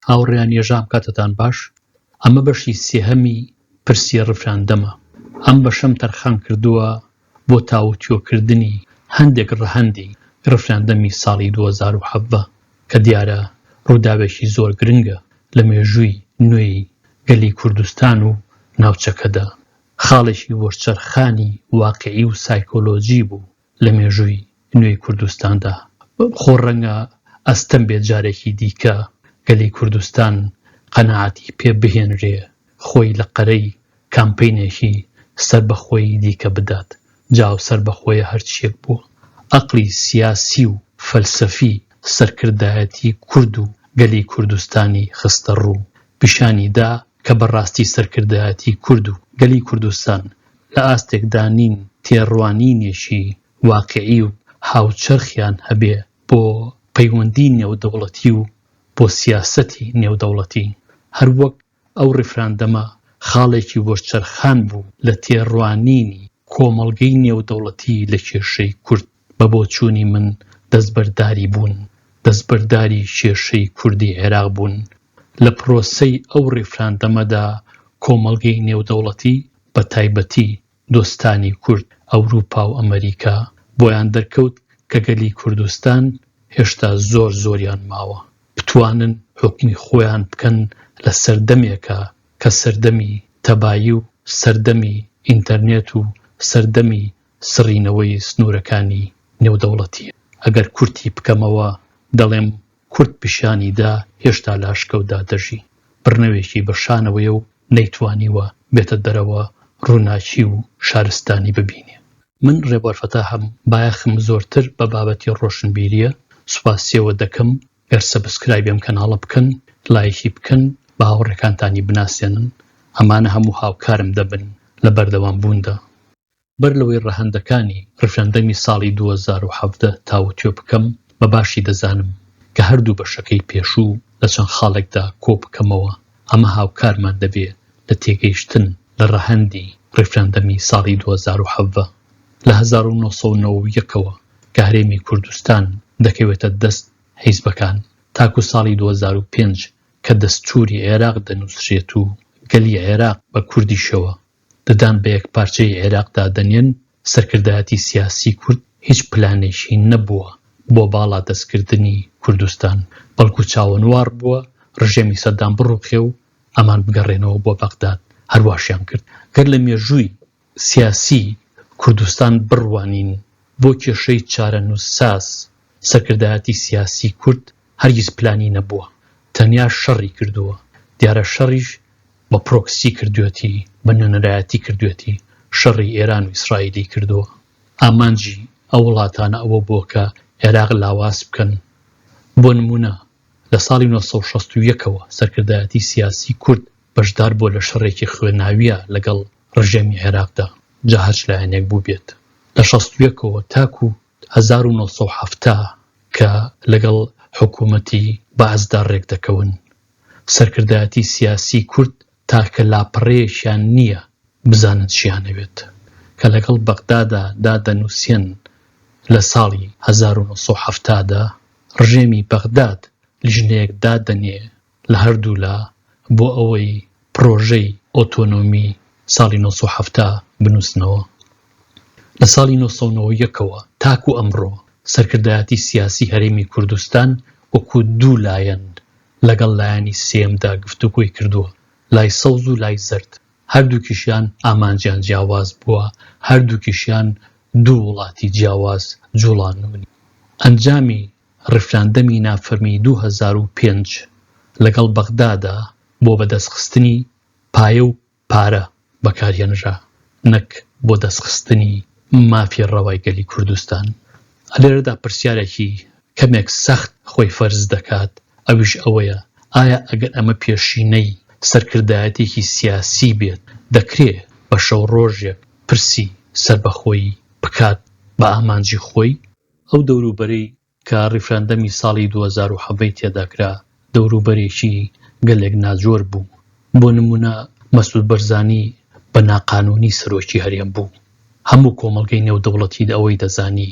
هاوڕێیان یەژام کاتتان باش ئەمە بەشی سێهەمی پرسی ڕفراندەمە ئەم بەشەم تەرخان کردووە بۆ تاوتوێکردنی هەندێک ڕەهەندی ڕفراندەمی ساڵی دوو هەزار و حەڤدە کە دیارە ڕووداوێکی زۆر گرنگە لە مێژووی نوێی گەلی کوردستان و ناوچەکەدا خاڵێکی وەرچەرخانی واقیعی و سایکۆلۆژی بوو لە مێژووی نوێی کوردستاندا. خۆ ڕەنگە ئەستەم بێت جارێکی دیکە گەلی کوردستان قەناعەتی پێ بهێنرێ خۆی لە قەرەی کامپەینێکی سەربەخۆی دیکە بدات. جا ئەو سەربەخۆیە هەر چییەک بووە، ئەقڵی سیاسی و فەلسەفی سەرکردایەتی کورد و گەلی کوردستانی خستە ڕوو. پیشانی دا کە بە ڕاستی سەرکردایەتی کورد و گەلی کوردستان لە ئاستێکدا نین تێڕوانینێکی واقیعی و هاوچەرخیان هەبێ بۆ پەیوەندیی نێودەوڵەتی و بۆ سیاسەتی نێودەوڵەتی، هەر وەک ئەو ڕیفراندەمە خاڵێکی وەرچەرخان بوو لە تێڕوانینی کۆمەڵگەی نێودەوڵەتی لە کێشەی کورد. بە بۆچوونی من دەستبەرداری بوون، دەستبەرداری کێشەی کوردی عێراق بوون. لە پرۆسەی ئەو ڕیفراندەمەدا کۆمەڵگەی نێودەوڵەتی بە تایبەتی دۆستانی کورد، ئەوروپا و ئەمەریکا، بۆیان دەرکەوت کە گەلی کوردستان هێشتا زۆر زۆریان ماوە بتوانن حوکمی خۆیان بکەن لە سەردەمێکا کە سەردەمی تەبایی و سەردەمی ئینتەرنێت و سەردەمی سڕینەوەی سنوورەکانی نێودەوڵەتییە. ئەگەر کورتی بکەمەوە، دەڵێم کورد پیشانی دا هێشتا لە ئاشکەوتدا دەژی، بڕنەوێکی بە شانەوەیە و نەیتوانیوە بێتە دەرەوە ڕووناکی و شارستانی ببینێ. من ڕێبوار فەتاحم، بایەخم زۆرتر بە بابەتی ڕۆشنبیرییە، سوپاسییەوە دەکەم گەر سەبسکرایبی ئەم کەناڵە بکەن، لایکی بکەن، بە هاوڕێکانتانی بناسێنن، ئەمانە هەموو هاوکارم دەبن لە بەردەوامبووندا. بەر لەوەی ڕەهەندەکانی ڕیفراندەمی ساڵی دوو هەزار و حەڤدە تاوتوێ بکەم، بە باشی دەزانم کە هەردوو بەشەکەی پێشوو لە چەند خاڵێکدا کۆ بکەمەوە، ئەمە هاوکارمان دەبێ لە تێگەیشتن لە ڕەهەندی ڕیفراندەمی ساڵی دوو هەزار و حەڤدە. لە هەزار و نۆ سەد و نەوەد و یەک ەوە کە هەرێمی کوردستان دەکەوێتە دەست حیزبەکان تاکوو ساڵی دوو هەزار و پێنج کە دەستووری عێراق دەنووسرێت و گەلی عێراق بە کوردیشەوە ددان بە یەکپارچەیی عێراق دادەنێن، سەرکردایەتی سیاسی کورد هیچ پلانێکی نەبووە بۆ باڵا دەستکردنی کوردستان، بەڵکو چاوەنوار بووە رژێمی سەدام بڕوخێ و ئەمان بگەڕێنەوە بۆ بەغداد، هەرواشیان کرد. گەر لە مێژووی سیاسی کوردستان بڕوانین، بۆ کێشەی چارەنووسساز، سەرکردایەتی سیاسی کورد هەرگیز پلانی نەبووە تەنیا شەڕی کردووە دیارە شەڕیش بە پرۆکسی کردوێتی بە نوێنەرایەتی کردوێتی شەڕی ئێران و ئیسرائیلی کردووە ئامانجی ئەو وڵاتانە ئەوە بووە کە عێراق لاواز بکەن بۆ نمونە لە ساڵی 1960ەوە سەرکردایەتی سیاسی کورد بەشدار بووە لە شەڕێکی خوێناویە لەگەڵ ڕژێمی عێراقدا جا هەرچ لایەنێک بوو بێت لە 1960ەوە تاکو هەزار و نۆ سەد و حەفتا کە لەگەڵ حکوومەتی بەعسدا ڕێک دەکەون. سەرکردایەتی سیاسیی کورد تاکە لاپەڕەیەکیان نییە بزانن چییان ئەوێت. کە لەگەڵ بەغدادا دادەنووسێن لە ساڵی هەزار و نۆ سەد و حەفتا دا، ڕژێمی بەغداد لیژنەیەک دادەنێ لە هەردوولا بۆ ئەوەی پڕۆژەی ئۆتۆنۆمی ساڵی نۆ سەد و حەفتا بنووسنەوە. لە ساڵی نۆ سەد و نەوەد و یەک ەوە تاکوو ئەمڕۆ سەرکردایەتی سیاسی هەرێمی کوردستان وەکوو دوو لایەن لەگەڵ لایەنی سێیەمدا گفتوگۆی کردووە، لای سەوز و لای زەرد. هەردووکیشیان ئامانجیان جیاواز بووە، هەردووکیشیان دوو وڵاتی جیاواز جووڵانوونی. ئەنجامی ڕیفراندەمی نافەرمی دوو هەزار و پێنج لەگەڵ بەغدادا بۆ بەدەستخستنی پایە و پارە بەکارهێنرا نەک بۆ دەستخستنی مافی ڕەوای گەلی کوردستان. لێرەدا پرسیارێکی کەمێک سەخت خۆی فەرز دەکات ئەویش ئەوەیە ئایا ئەگەر ئەمە پێشینەی سەرکردایەتێکی سیاسی بێت دەکرێ بە شەو ڕۆژێک پرسی سەربەخۆیی بکات بە ئامانجی خۆی؟ ئەو دەوروبەرەی کە ڕیفراندەمی ساڵی دوو هەزار و حەڤە ی تێدا کرا دەوروبەرێکی گەلێک ناجۆر بوو، بۆ نموونە مەسود بەرزانی بە ناقانوونی سەرۆکی هەرێم بوو، هەموو کۆمەڵگەی نێودەوڵەتی ئەوەی دەزانی،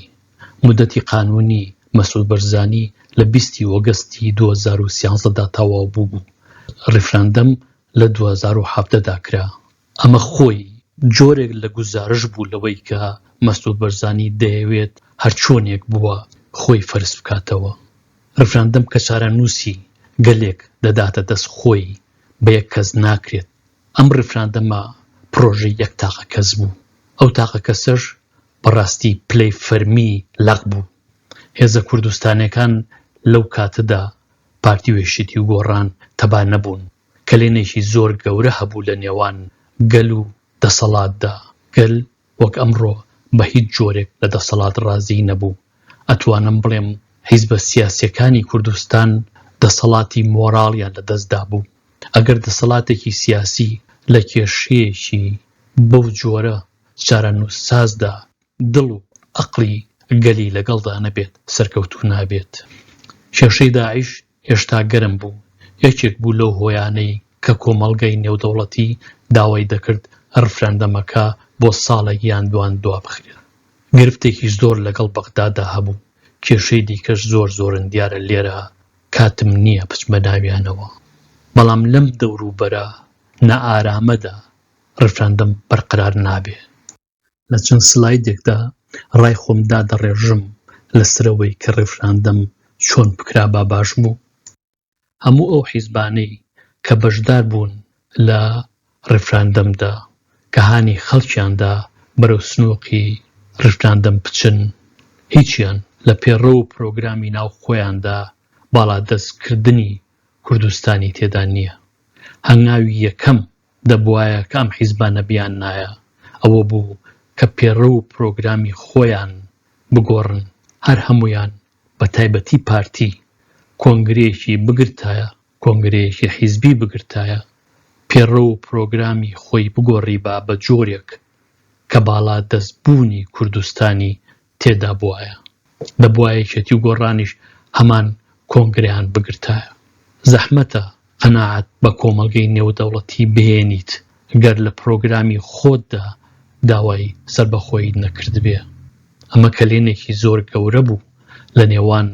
مودەتی قانوونی مەسود بەرزانی لە بیست ی ئۆگەستی دوو هەزار و سیانزدە دا تەواو بووبوو، ڕیفراندەم لە دوو هەزار و حەڤدە دا کرا، ئەمە خۆی جۆرێک لە گوزارش بوو لەوەی کە مەسعود بەرزانی دەیەوێت هەرچۆنێک بووە خۆی فەرز بکاتەوە. ڕیفراندەم کە چارەنووسی گەلێک دەداتە دەست خۆی بە یەک کەس ناکرێت، ئەم ڕیفراندەمە پڕۆژەی یەک تاقە کەس بوو، ئەو تاقە کەسەش بە ڕاستی پلەی فەرمی لەق بوو. هێزە کوردستانیەکان لەو کاتەدا پارتی و یەکێتی و گۆڕان تەبا نەبوون، کەلێنێکی زۆر گەورە هەبوو لە نێوان گەل و دەسەڵاتدا، گەل وەک ئەمڕۆ بە هیچ جۆرێک لە دەسەڵات ڕازیی نەبوو، ئەتوانم بڵێم حیزبە سیاسیەکانی کوردستان دەسەڵاتی مۆراڵیان لە دەست دابوو، ئەگەر دەسەڵاتێکی سیاسی لە کێشەیەکی بەو جۆرە چارەنووسسازدا، دڵ و ئەقڵی گەلی لەگەڵدا نەبێت سەرکەوتوو نابێت. کێشەی داعش هێشتا گەرم بوو، یەکێک بوو لەو هۆیانەی کە کۆمەڵگەی نێودەوڵەتی داوای دەکرد رفراندەمەکە بۆ ساڵێک یان دوان دوابخرێت. گرفتێکی زۆر لەگەڵ بەغداددا هەبوو، کێشەی دیکەش زۆر زۆرن دیارە لێرە کاتم نییە بچمە ناویانەوە، بەڵام لەم دەوروبەرە نائارامەدا رفراندەم بەرقەرار نابێت. لە چەند سلایدێکدا ڕای خۆم دادەڕێژم لەسەرەوەی کە ڕێفراندەم چۆن بکرابا باش بوو؟ هەموو ئەو حیزبانەی کە بەشدار بوون لە ڕێفراندەمدا کە هانی خەڵکیاندا بەرەو سنووقی ڕیفراندەم بچن هیچیان لە پێڕەو و پرۆگرامی ناو خۆیاندا باڵادەست کردنی کوردستانی تێدا نییە هەنگاوی یەکەم دەبوایە کام حیزبا نەبیاننایە ئەوە بوو کە پێڕەو و پرۆگرامی خۆیان بگۆڕن هەر هەموویان بە تایبەتی پارتی کۆنگرەیەکی بگرتایە کۆنگرەیەکی حیزبی بگرتایە پێڕەو و پرۆگرامی خۆی بگۆڕیبا بە جۆرێک کە باڵا دەست بوونی کوردستانی تێدا بوایە دەبوا یەکێتی و گۆڕانیش هەمان کۆنگرەیان بگرتایە زەحمەتە قەناعەت بە کۆمەڵگەی نێودەوڵەتی بهێنیت گەر لە پرۆگرامی خۆتدا داوای سەربەخۆییت نەکردبێ ئەمە کەلێنێکی زۆر گەورە بوو لە نێوان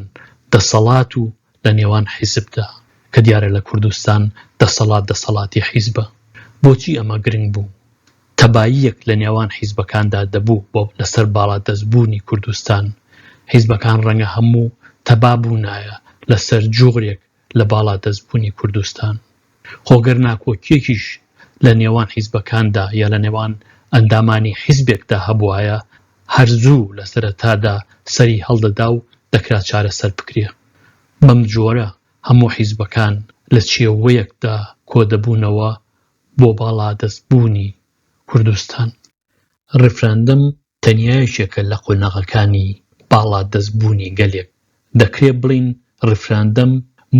دەسەڵات و لە نێوان حیزبدا، کە دیارە لە کوردستان دەسەڵات دەسەڵاتی حیزبە. بۆچی ئەمە گرنگ بوو؟ تەباییەک لە نێوان حیزبەکاندا دەبوو بۆ لەسەر باڵادەست بوونی کوردستان. حیزبەکان ڕەنگە هەموو تەبا بوونایە لەسەر جوغرێک لە باڵادەست بوونی کوردستان. خۆ گەر ناکۆکییەکیش لە نێوان حیزبەکاندا یا لە نێوان ئەندامانی حیزبێکدا هەبوایە هەر زوو لە سەرەتادا سەری هەڵدەدا و دەکرا چارەسەر بکرێ. بەم جۆرە هەموو حیزبەکان لە چێوەیەکدا کۆدەبوونەوە بۆ باڵادەستبوونی کوردستان. ڕیفراندەم تەنیا یەکێکە لە قۆناغەکانی باڵادەست بوونی گەلێک، دەکرێ بڵێین ڕیفراندەم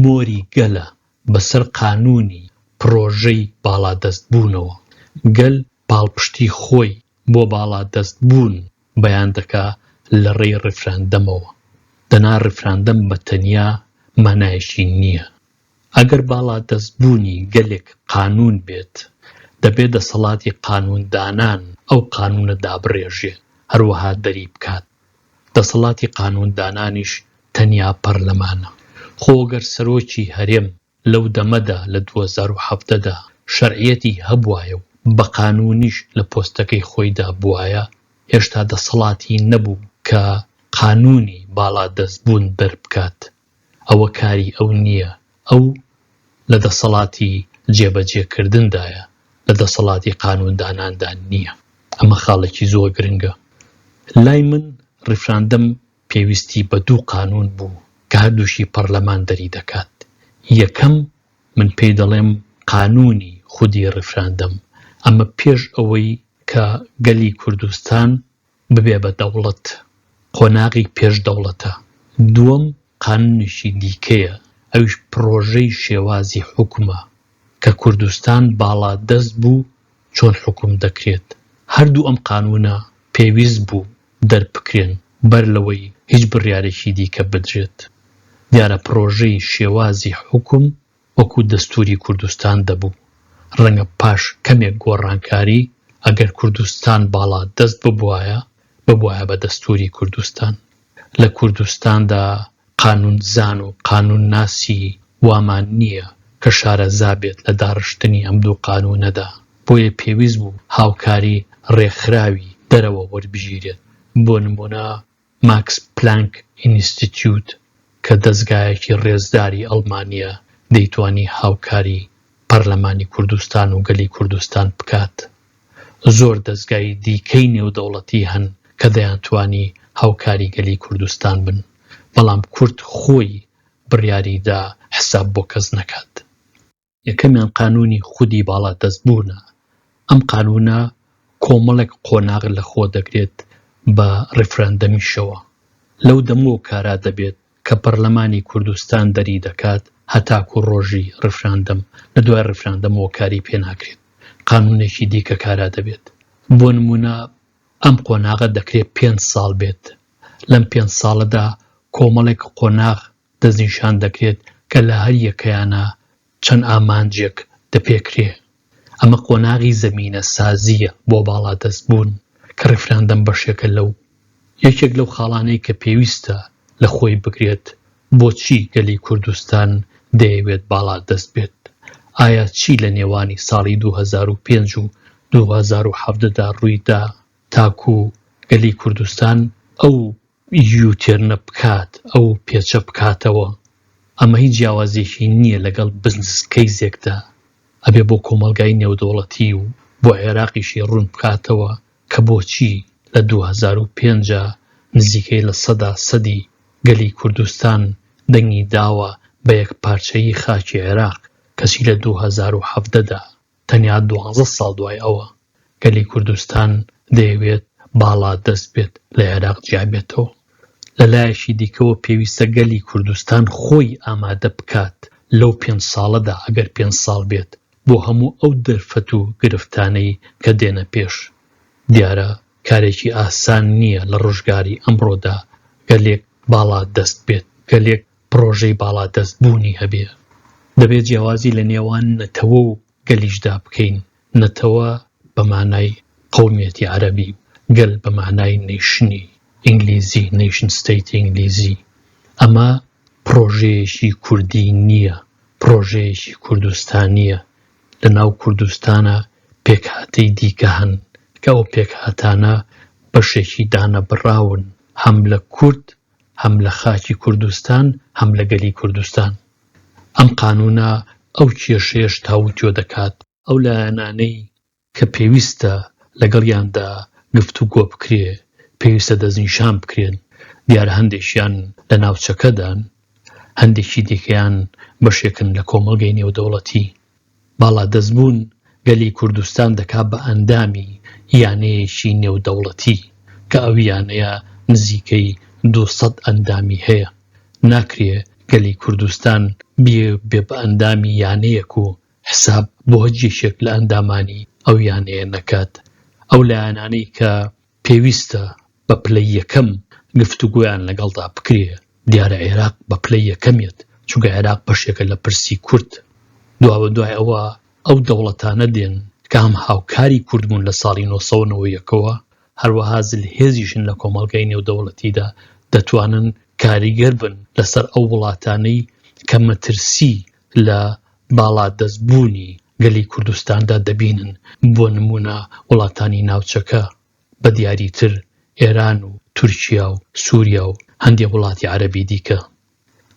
مۆری گەلە بەسەر قانوونی پڕۆژەی باڵادەست بوونەوە، گەل پاڵپشتی خۆی بۆ باڵادەست بوون بەیان دەکا لە ڕێی ڕیفراندەمەوە، دەنا ڕیفراندەم بە تەنیا مانایەکی نییە، ئەگەر باڵادەست بوونی گەلێک قانوون بێت، دەبێ دەسەڵاتی قانوون دانان ئەو قانوونە دابڕێژێ، هەروەها دەری بکات. دەسەڵاتی قانوون دانانیش تەنیا پەرلەمانە. خۆ گەر سەرۆکی هەرێم لەو دەمەدا لە دوو هەزار و حەڤدە دا شەرعیەتی هەبوایە و بە قانوونیش لە پۆستەکەی خۆیدا بوایە، هێشتا دەسەڵاتی نەبوو کە قانوونی باڵادەست بوون دەربکات. ئەوە کاری ئەو نییە، ئەو لە دەسەڵاتی جێبەجێکردندایە، لە دەسەڵاتی قانونداناندا نییە. ئەمە خاڵێکی زۆر گرنگە. لای من ریفراندەم پێویستی بە دوو قانون بوو کە هەردووکی پەڕلەمان دەری دەکات. یەکەم من پێی دەڵێم قانونی خودی ریفراندەم، ئەمە پێش ئەوەی کە گەلی کوردستان ببێ بە دەوڵەت قۆناغی پێش دەوڵەتە، دووەم قانونێکی دیکەیە ئەویش پڕۆژەی شێوازی حوکمە کە کوردستان باڵا دەست بوو چۆن حوکم دەکرێت، هەردوو ئەم قانونە پێویست بوو دەربکرێن بەر لەوەی هیچ بڕیارێکی دیکە بدرێت، دیارە پڕۆژەی شێوازی حوکم وەکو دەستوری کوردستان دەبوو ڕەنگە پاش کەمێک گۆڕانکاری ئەگەر کوردستان باڵا دەست ببوایە ببوایە بە دەستوری کوردستان لە کوردستاندا قانون زان و قانون ناسی وامان نییە کە شارەزا بێت لە داڕشتنی ئەم دوو قانونەدا بۆیە پێویست بوو هاوکاری ڕێکخراوی دەرەوە وەربگیرێت بۆ نمونە ماکس پلانک ئینستیتیوت کە دەزگایەکی ڕێزداری ئەڵمانییە دەیتوانی هاوکاری پەرلەمانی کوردستان و گەلی کوردستان بکات. زۆر دەزگای دیکەی نێودەوڵەتی هەن کە دەیانتوانی هاوکاری گەلی کوردستان بن، بەڵام کورد خۆی بڕیاری دا حساب بۆ کەس نەکات. یەکەمیان قانوونی خودی باڵادەست بوونە، ئەم قانوونە کۆمەڵێک قۆناغ لە خۆ دەگرێت بە ڕیفراندەمیشەوە لەو دەمەوە کارا دەبێت کە پەرلەمانی کوردستان دەری دەکات هەتاکوو ڕۆژی ڕیفراندەم لە دوای ڕیفراندەمەوە کاری پێ ناکرێت قانوونێکی دیکە کارا دەبێت بۆ نموونە ئەم قۆناغە دەکرێت پێنج ساڵ بێت لەم پێنج ساڵەدا کۆمەڵێک قۆناغ دەستنیشان دەکرێت کە لە هەر یەکەیانا چەند ئامانجێک دەپێکرێ. ئەمە قۆناغی زەمینە سازییە بۆ باڵادەست بوون کە ڕیفراندەم بەشێکە لەو. یەکێک لەو خاڵانەی کە پێویستە لە خۆی بگرێت بۆچی گەلی کوردستان دەیەوێت باڵادەست بێت؟ ئایا چی لە نێوانی ساڵی دوو هەزار و پێنج و دوو هەزار و حەڤدە دا ڕووی دا تاکوو گەلی کوردستان ئەو یوتێرنە بکات ئەو پێچە بکاتەوە ئەمە هیچ جیاوازیەکی نییە لەگەڵ بزنس کەیزێکدا ئەبێ بۆ کۆمەلگای نێودەوڵەتی و بۆ عێراقیشی ڕوون بکاتەوە کە بۆچی لە 2005 نزیکەی لە سەدا سەدی گەلی کوردستان دەنگی داوە بە یەک پارچەیی خاکی عێراق کەچی لە 2017دا تەنیا دوازدە ساڵ دوای ئەوە گەلی کوردستان دەیەوێت باڵادەست بێت لە عێراق جیابێتەوە. لە لایەکی دیکەوە پێویستە گەلی کوردستان خۆی ئامادە بکات لەو پێنج ساڵەدا ئەگەر پێنج ساڵ بێت بۆ هەموو ئەو دەرفەت و گرفتانەی کە دێنە پێش. دیارە کارێکی ئاسان نییە لە ڕۆژگاری ئەمڕۆدا گەلێک باڵا دەست بێت، گەلێک پڕۆژەی باڵادەست بوونی هەبێ دەبێ جیاوازی لە نێوان نەتەوە و گەلیشدا بکەین نەتەوە بە مانای قەومیەتی عەرەبی و گەل بە مانای نەیشنی ئینگلیزی نەیشن ستەیتی ئینگلیزی ئەمە پڕۆژەیەکی کوردی نییە پڕۆژەیەکی کوردستانییە لە ناو کوردستانە پێکهاتەی دیکە هەن کە ئەو پێکهاتانە بەشێکی دانەبڕاون هەم لە کورد هەم لە خاکی کوردستان هەم لە گەلی کوردستان. ئەم قانوونە ئەو کێشەیەش تاووتوێ دەکات. ئەو لایەنانەی کە پێویستە لەگەڵیاندا گفتوگۆ بکرێ پێویستە دەستنیشان بکرێن، دیارە هەندێکیان لە ناوچەکەدان، هەندێکی دیکەیان بەشێکن لە کۆمەڵگەی نێودەوڵەتی. باڵادەست بوون گەلی کوردستان دەکات بە ئەندامی یانەیەکی نێودەوڵەتی کە ئەو یانەیە نزیکەی دوو سەد ئەندامی هەیە، ناکرێ گەلی کوردستان بیێ بە ئەندامی یانەیەک و حساب بۆ هەچ یەکێک لە ئەندامانی ئەو یانەیە نەکات، ئەو لایەنانەی کە پێویستە بە پلەی یەکەم گفتوگۆیان لەگەڵدا بکرێ، دیارە عێراق بە پلەی یەکەمیەت، چونکە عێراق بەشێکە لە پرسی کورد، دوابەدوای ئەوە ئەو دەوڵەتانە دێن کە هەم هاوکاری کورد بوون لە ساڵی نۆ سەد و نەوە و یەک ەوە، هەروەها زلهێزیشن لە کۆمەڵگای نێودەوڵەتیدا، دەتوانن کاریگەر بن لەسەر ئەو وڵاتانەی کە مەترسی لە باڵادەست بوونی گەلی کوردستاندا دەبینن، بۆ نموونە وڵاتانی ناوچەکە بە دیاری تر ئێران و تورکیا و سوریا و هەندێ وڵاتی عەرەبی دیکە.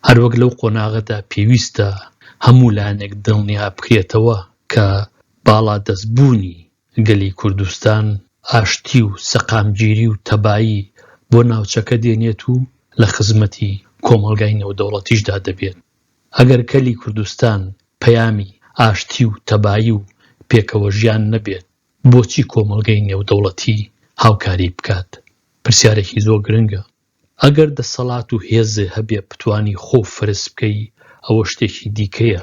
هەر وەک لەو قۆناغەدا پێویستە هەموو لایەنێک دڵنیا بکرێتەوە کە باڵادەست بوونی گەلی کوردستان ئاشتی و سەقامگیری و تەبایی بۆ ناوچەکە دێنێت و لە خزمەتی کۆمەڵگای نێودەوڵەتیشدا دەبێت. ئەگەر گەلی کوردستان پەیامی ئاشتی و تەبایی و پێکەوەژیان نەبێت، بۆچی کۆمەڵگەی نێودەوڵەتی هاوکاری بکات؟ پرسیارێکی زۆر گرنگە. ئەگەر دەسەڵات و هێزێ هەبێ بتوانی خۆو فەرز بکەی ئەوە شتێکی دیکەیە،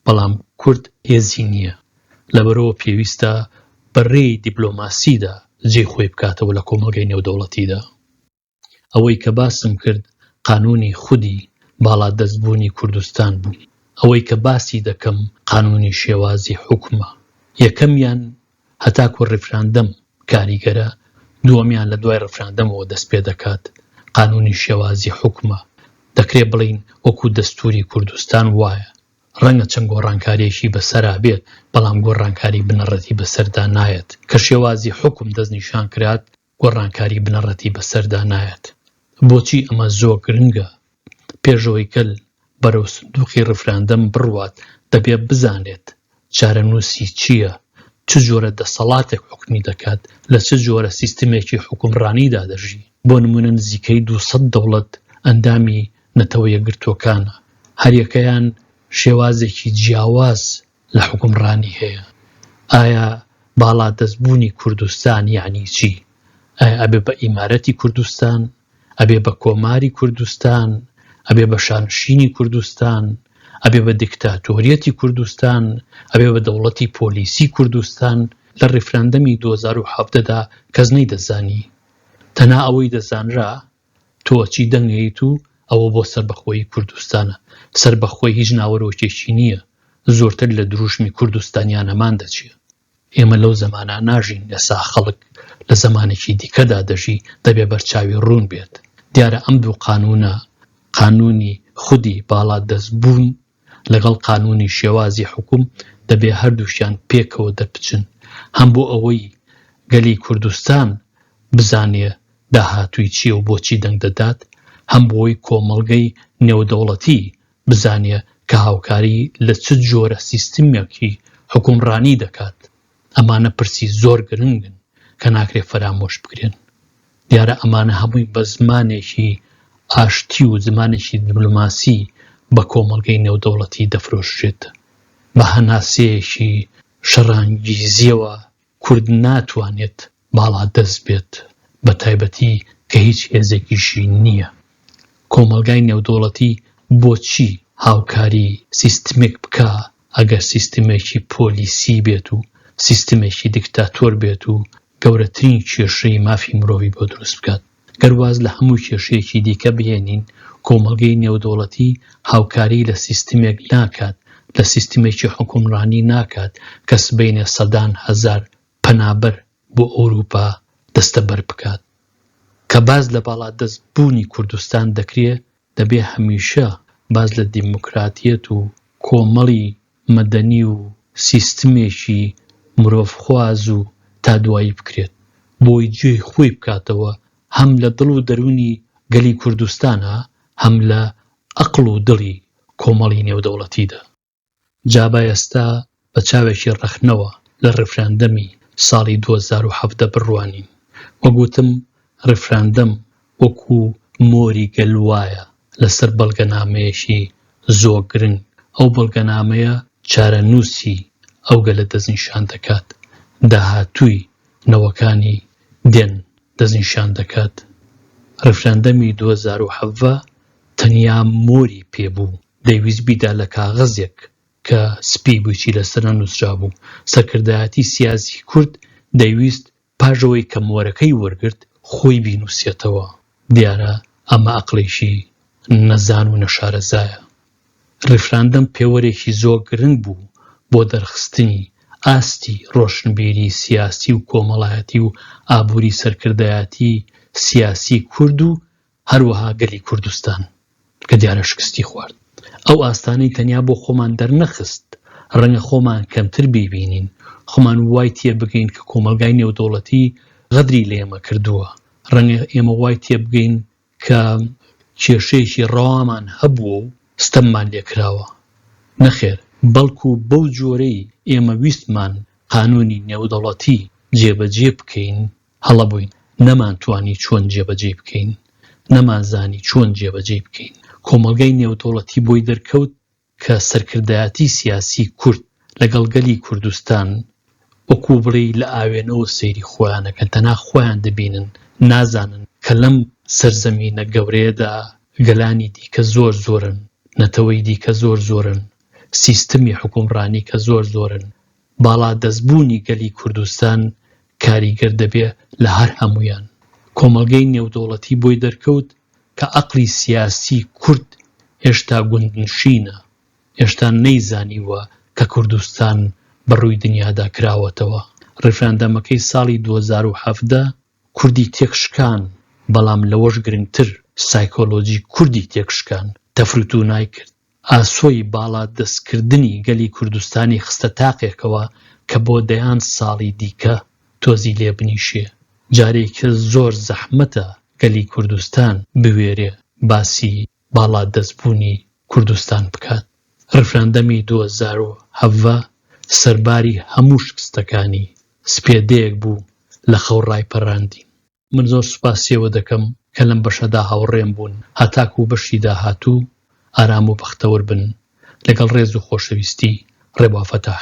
بەڵام کورد هێزی نییە، لەبەرئەوە پێویستە بە رێی دیبلۆماسیدا جێی خۆی بکاتەوە لە کۆمەڵگەی نێودەوڵەتیدا. ئەوەی کە باسم کرد قانونی خودی باڵا دەست بوونی کوردستان بوو. ئەوەی کە باسی دەکەم قانونی شێوازی حوکمە. یەکەمیان هەتاکو ڕیفراندەم کاریگەرە، دووەمیان لە دوای ڕفراندەمەوە دەست پێ دەکات. قانونی شێوازی حوکمە. دەکرێ بڵێین وەکو دەستوری کوردستان وایە. ڕەنگە چەند گۆڕانکاریەکی بە سەرا بێت، بەڵام گۆڕانکاری بنەڕەتی بە سەردا نایەت. کە شێوازی حوکم دەست نیشان کرات، گۆڕانکاری بنەڕەتی بەسەردا نایەت. بۆچی ئەمە زۆر گرنگە؟ پێشەوەی گەل بەرەو سندوقی ڕیفراندەم بڕوات دەبێت بزانێت چارەنووسی چییە، چ جۆرە دەسەڵاتێک حوکمی دەکات، لە چ جۆرە سیستمێکی حوکمڕانیدا دەژی. بۆ نموونە نزیکەی دوو سەد دەوڵەت ئەندامی نەتەوە یەکگرتووەکانە، هەریەکەیان شێوازێکی جیاواز لە حوکمڕانی هەیە ئایا باڵا دەست بوونی کوردستان یعنی چی ئایا ئەبێ بە ئیمارەتی کوردستان ئەبێ بە کۆماری کوردستان ئەبێ بە شانشینی کوردستان ئەبێ بە دیکتاتۆریەتی کوردستان ئەبێ بە دەوڵەتی پۆلیسی کوردستان لە ڕیفراندەمی 2017دا کەس نەی دەزانی تەنا ئەوەی دەزانرا تۆ چی دەنگەیت و ئەوە بۆ سەربەخۆیی کوردستانە؟ سەربەخۆی هیچ ناوەرۆکێکی نییە، زۆرتر لە دروشمی کوردستانیانەمان دەچێ. ئێمە لەو زەمانە ناژین، ئێستا خەڵک لە زەمانێکی دیکەدا دەژی، دەبێ بەرچاوی ڕوون بێت. دیارە ئەم دوو قانوونە، قانوونی خودی باڵادەستبوون، لەگەڵ قانونی شێوازی حوکم دەبێ هەردووکیان پێکەوە دەربچن هەم بۆ ئەوەی گەلی کوردستان بزانێ داهاتووی چییە و بۆچی دەنگ دەدات، هەم بۆی کۆمەڵگەی نێودەوڵەتی بزانێ کە هاوکاری لە چ جۆرە سیستمێکی حوکمڕانی دەکات. ئەمانە پرسی زۆر گرنگن کە ناکرێت فەرامۆش بکرێن. دیارە ئەمانە هەمووی بە زمانێکی ئاشتی و زمانێکی دیبلۆماسی بە کۆمەڵگەی نێودەوڵەتی دەفرۆشرێت. بە هەناسەیەکی شەڕانگیزیەوە کورد ناتوانێت باڵا دەست بێت بە تایبەتی کە هیچ هێزێکیشی نییە. کۆمەڵگای نێودەوڵەتی بۆچی هاوکاری سیستمێک بکا ئەگەر سیستمێکی پۆلیسی بێت و سیستمێکی دیکتاتۆر بێت و گەورەترین کێشەی مافی مرۆڤی بۆ دروست بکات. گەر واز لە هەموو کێشەیەکی دیکە بهێنین کۆمەڵگەی نێودەوڵەتی هاوکاری لە سیستمێک ناکات لە سیستمێکی حکومڕانی ناکات کە سبەینێ سەدان هەزار پەنابەر بۆ ئەوروپا دەستەبەر بکات. کە باس لە باڵادەست بوونی کوردستان دەکرێ دەبێ هەمیشە باس لە دیموکراتیەت و کۆمەڵی مەدەنی و سیستمێکی مرۆڤ خواز و تا دوایی بکرێت بۆی جێ خۆی بکاتەوە هەم لە دڵ و دەرونی گەلی کوردستانا هەم لە ئەقڵ و دڵی کۆمەڵی نێودەوڵەتیدا. جا با ئێستا بە چاوێکی ڕەخنەوە لە ڕیفراندەمی ساڵی دوو هەزار و حەڤدە بڕوانین. وەک وتم ڕیفراندەم وەکو مۆری گەل وایە لەسەر بەڵگەنامەیەکی زۆ گرنگ، ئەو بەڵگەنامەیە چارەنووسی ئەو گەلە دەستنیشان دەکات، داهاتووی نەوەکانی دێن دەستنیشان دەکات. ڕیفراندەمی دوو هەزار و حەڤە تەنیا مۆری پێ بوو، دەیویست بیدا لە کاغەزێک کە سپی بوویی لەسەر نووسرابوو. سەرکردایەتی سیاسی کورد دەیویست پاش ئەوەی کە مۆرەکەی وەرگرت، خۆی بینووسێتەوە. دیارە ئەمە ئەقڵێکی نەزان و نەشارەزایە. ڕیفراندەم پێوەرێکی زۆر گرنگ بوو بۆ دەرخستنی ئاستی ڕۆشنبیری سیاسی و کۆمەڵایەتی و ئابووری سەرکردایەتی سیاسی کورد و هەروەها گەلی کوردستان کە دیارە شکستی خوارد. ئەو ئاستانەی تەنیا بۆ خۆمان دەرنەخست، ڕەنگە خۆمان کەمتر بیبینین، خۆمان وای تێبگەین کە کۆمەڵگای نێودەوڵەتی غەدری لە ئێمە کردووە، ڕەنگە ئێمە وای تێبگەین کە کێشەیەکی ڕەوامان هەبووە و ستەممان لێکراوە. نەخێر، بەڵکو بەو جۆرەی ئێمە ویستمان قانوونی نێودەوڵەتی جێبەجێ بکەین، هەڵە بووین، نەمانتوانی چۆن جێبەجێی بکەین، نەمانزانی چۆن جێبەجێی بکەین. کۆمەڵگای نێودەوڵەتی بۆی دەرکەوت کە سەرکردایەتی سیاسی کورد لەگەڵ گەلی کوردستان وەکوو بڵێی لە ئاوێنەوە سەیری خۆیان ئەکەن، تەنها خۆیان دەبینن، نازانن کە لەم سەرزەمینە گەورەیەدا گەلانی دیکە زۆر زۆرن، نەتەوەی دیکە زۆر زۆرن، سیستمی حوکمڕانی کە زۆر زۆرن، باڵا دەست بوونی گەلی کوردستان کاریگەر دەبێ لە هەر هەموویان. کۆمەڵگەی نێودەوڵەتی بۆی دەرکەوت کە ئەقڵی سیاسی کورد هێشتا گوندنشینە، هێشتا نەیزانیووە کە کوردستان بە ڕووی دنیادا کراوەتەوە. ڕیفراندەمەکەی ساڵی دوو هەزار و حەڤدە کوردی تێک شکان، بەڵام لەوەش گرنگتر سایکۆلۆجی کوردی تێک شکان، تەفروتوونای کرد. ئاسۆی باڵا دەستکردنی گەلی کوردستانی خستە تاقێکەوە کە بۆ دەیان ساڵی دیکە تۆزی لێ بنیشێ. جارێکە زۆر زەحمەتە گەلی کوردستان بوێرێ باسی باڵا دەست بوونی کوردستان بکات. ڕیفراندەمی دوو هەزار و حەڤە سەرباری هەموو شکستەکانی، سپێدەیەک بوو لە خەو ڕایپەراندین. من زۆر سوپاسی ئەوە دەکەم کە لەم بەشەدا هاوڕێم بوون هەتاکوو بەشی داهاتوو ئارام و بەختەوەر بن لەگەڵ ڕێز و خۆشەویستی ڕێبا فەتاح.